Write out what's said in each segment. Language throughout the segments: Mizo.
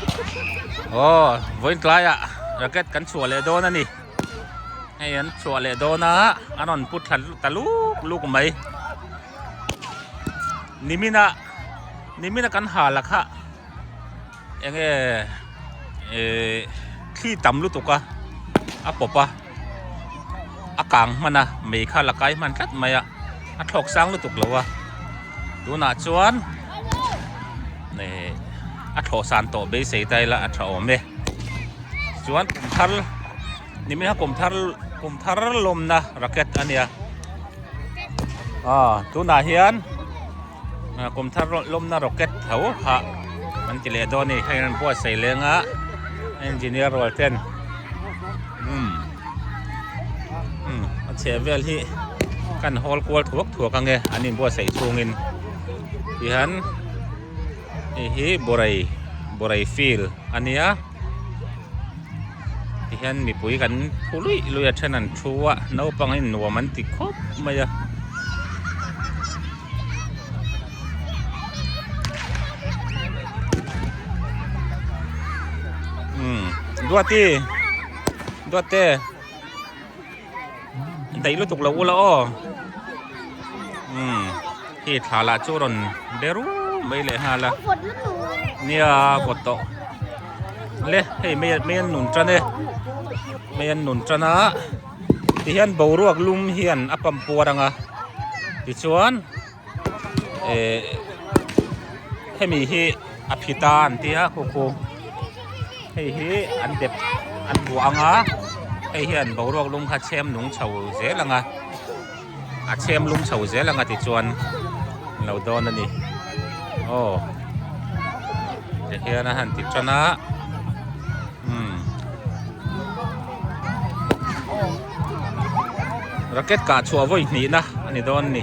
Aw vawiin tlaiah racket kan chhuah leh dawn a ni hei an chhuah leh dawn a an rawn pu thla ta luk luk mai nimina nimina kan ha la kha eng nge ee thli tam lutuk a a pawp a. a kang hman a mei kha la kai hman tlat mai a a thlawk sang lutuk lo a tunah chuan a thlawh san tawh beisei ta ila a tha awm e chuan kum thar niminah hian kum thar kum thar lawmna racket a nia aw tunah hian-- Kum thar lawmna rocket tho hah an ti leh dawn a ni. Kha in an buatsaih leng a engineer rual ten umm umm a chheh vel hi ka han hawl kual thuak thuak ang e an inbuatsaih chhungin tihian. hei hi borai borai field a nia tihian mipui kan phu luih luih a then an thu a naupang in nuam an ti khawp mai a. daih lutuk lo ula aw umm he thla lah chu rawn be ru mai leh nghal a nia vawt tawh le hei mai an mai an nun tan e mai an nun tan a tihian boruak lum hian a pam puar ang a tichuan-- ehh hemi hi a phit a an tia khuku hei hi an dep an buah ang a hei hian boruak lung kha chhem nung chho zel ang a a chhem lung chho zel ang a tichuan an lo dawn a ni aw tihian a han ti tan a. Racket kah chua voi hnih na a ni dawn ni.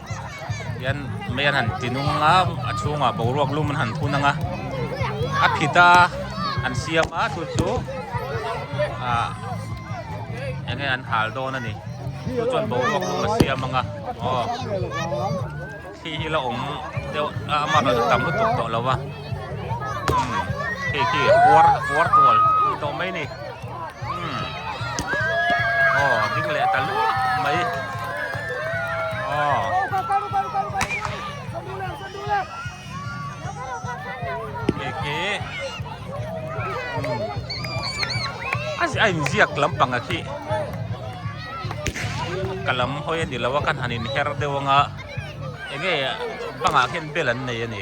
Hian mai an han ti nung a, a chhungah boruak lum an han phun ang a, a phit a, an siam a chu chu ah eng nge an hal dawn a ni, chu chuan boruak lum a siam ang a, aw khi hi la awm deuh a amah rawn tam lutuk tawh lo va, khi khi a kuar a kuar tual tawh mai a ni. a inziak lampang ah khi ka lam hawi a ni lo a ka han inher deuh ang a eng nge bangah khian bel an nei a ni.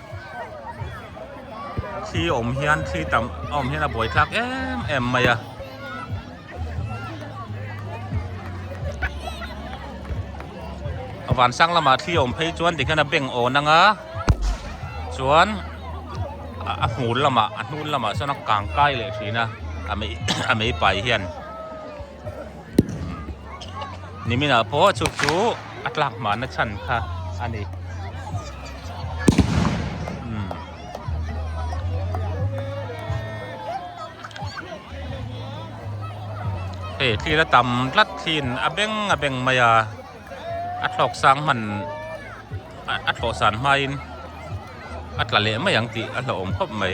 thli awm hian thli tam a awm hian a buai thlak em em mai a. a van sang lamah thli awm phei chuan tikhian a beng awn anga chuan a hmul lamah a hnun lamah chuan a kang kai leh thin a a mei a mei pai hian. Nimin ah pawh chu chu a tlak mahna chhan kha a ni. Hei tlil a tam tlat thlin a beng a beng mai a, a thlawk sang hman a thlawh san hmain a tla leh mai ang tih a hlauhawm khawp mai.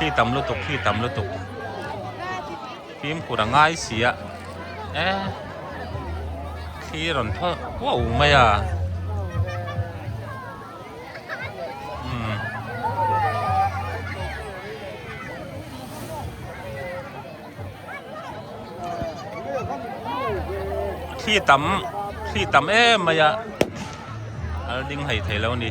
khi tam lutuk khi tam lutuk phim kura ngai sia e khi ron tho wo mai a hmm. thli tam thli tam em mai a al ding hei thei lo ni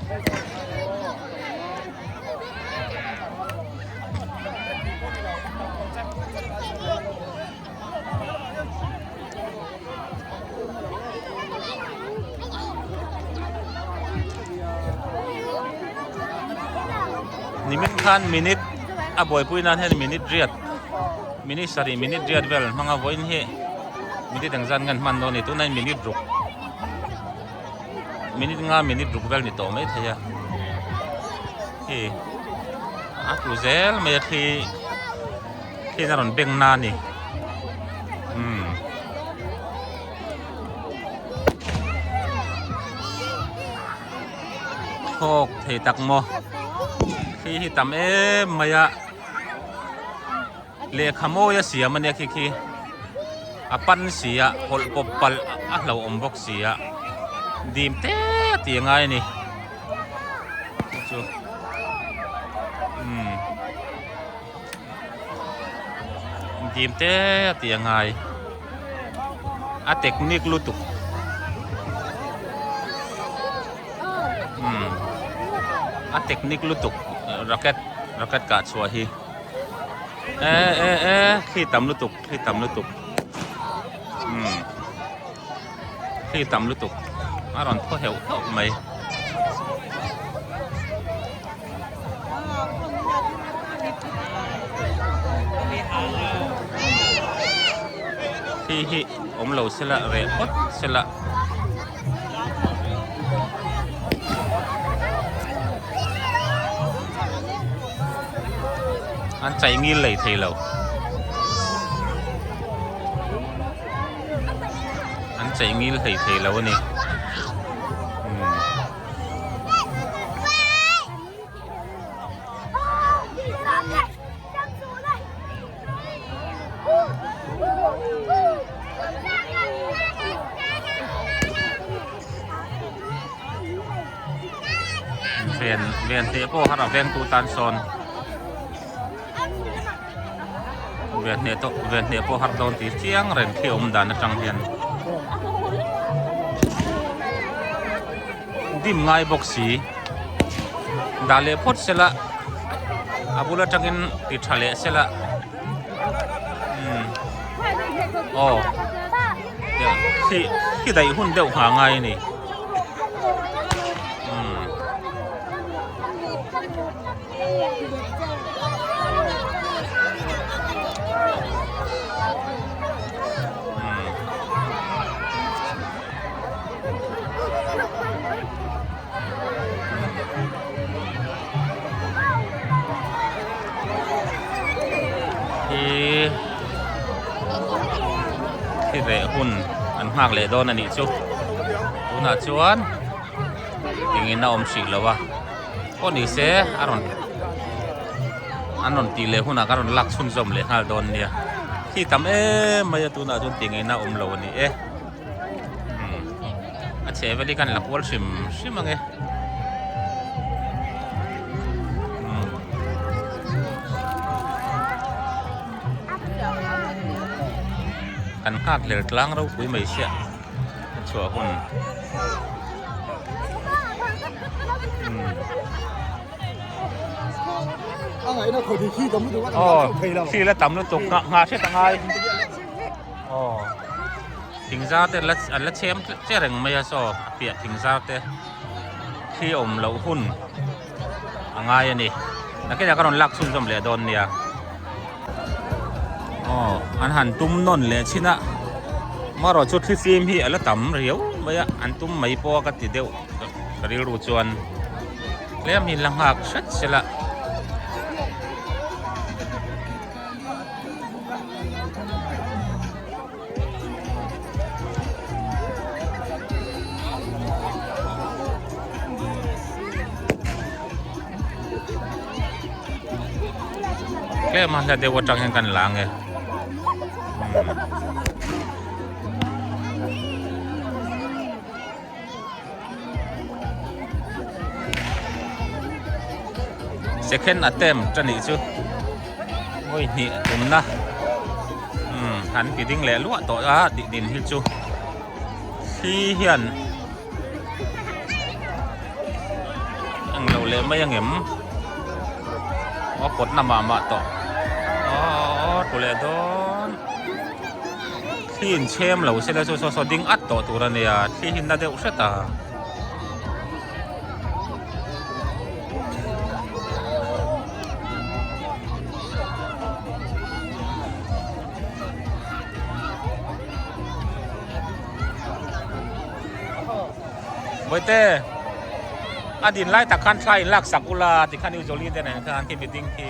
ni min khan minute a buaipui nan hian minute riat-- Minute sarih minute riat vel an hmang a vawiin hei minute eng zan ngen hman dawn ni tuna minute ruk minute nga minute ruk vel ni tawh mai thei a khi a tu zel mai a khi khi na rawn beng na ni um thawk thei tak maw khi hi tam em mai a lehkha mawi a siam a nia khi khi a pan si a hawlh pawp palh a hlo awm bawk si a dim te a ti a ngai a ni chu chu umm dim te a ti a ngai. a technique lutuk umm a technique lutuk racket racket kah chhuah hi e e e thli tam lutuk thli tam lutuk umm hlim tam lutuk a rawn thaw heuh heuh mai. Khi hi awm lo se la reh phawt se la. An chai ngil lei thei lo. an chei ngil hleih thei lo a ni umm ven ven teh pawh har a vengtu tan sawn. vietnam tawh vietnam pawh har dawn tih chiang reng khi awm dan atang hian dim ngai bawk si dah leh phawt sela a bul atangin ti tha leh sela aw khi khi daih hun deuh nghal ngai a ni reh hun an nghak leh dawn a nih chu tunah chuan engin a awm hrih loh a. pawh ni se a rawn an rawn tih leh hunah ka rawn lak chhun zawm leh nghal dawn nia khi tam em mai a tunah chuan ti ngei na awm lo a ni e umm a chhe vel hi ka rawn la kual hrim hrim ang e umm kan nghak hler tlang ropui mai sia. chhuah hun oh khi la tam lutuk nga nga hret a ngai oh thingzar te la an la chhem che reng mai a chaw a piah thingzar te khi awm loh hun a ngai a ni a khilaiah ka rawn lak chhun zawm leh dawn nia aw an han tum nawn leh chhin a marawh chu thli fim hi a la tam riau mai a an tum mai pawh a ka ti deuh ka rilru chuan tlem hi la nghak hret sil a tlem a hla deuh atang hian ka la ang e umm. Second attempt a nih chu. Oi hnih umna. Hmm, han ti ding leh luah tawh a tih din hi chu. Khi hian eng lo leh mai ang em. O kawtna mah mah tawh. Aw, tule dawn. thli in chhem lo se te chu saw saw ding at tawh tur a ni a thli hi na deuh hret a. Boite a din lai tak khan thlai in lak sak ula tikhan Jolie te nen khan khi meeting khi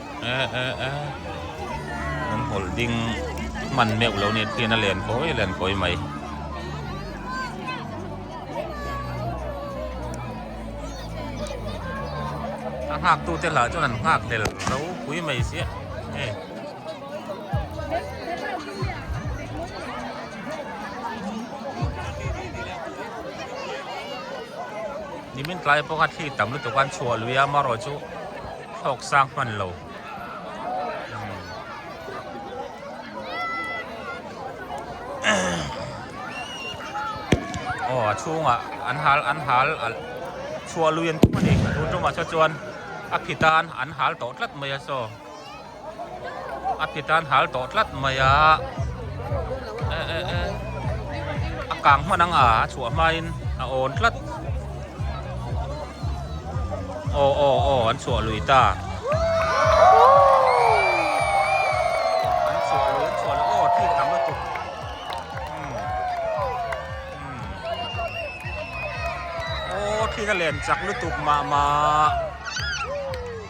Eh eh eh. An hawl ding hman meuh lo nia khian a len kawi a len kawi mai. A nghak tu te lah chuan an nghak hlel zo pui mai sia. Eh. Nimin tlai pawh a thli tam lutuk an chhuah lui a Maro chu. Thlawk sang hman lo. Aw a chhunga an hal an hal a chhuah lui ang thung a ni. Chu chu mahse chuan a phitan an hal tawh tlat mai a chaw. a pi tan hal tawh tlat mai a eh eh eh a kang hman ang a a chhuah hma in a awn tlat aw aw aw an chhuah lui ta an chhuah lui an chhuah lui aw thik ang lutuk umm umm aw thik a len chak lutuk mah mah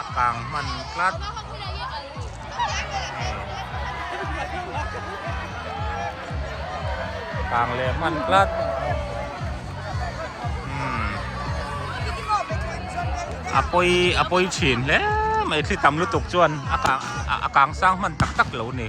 A kang hman tlat. Kang leh hman tlat. Umm. A pawi a pawi thin hle mai thli tam lutuk chuan a kang a kang sang hman tak tak lo ni.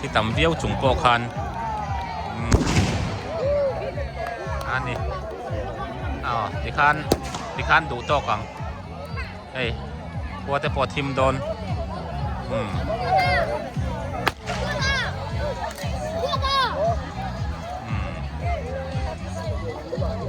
khi tam viau chung pawh khan a ni aw tikhan tikhan duh tawk ang ei khua te pawh thim dawn hmm hmm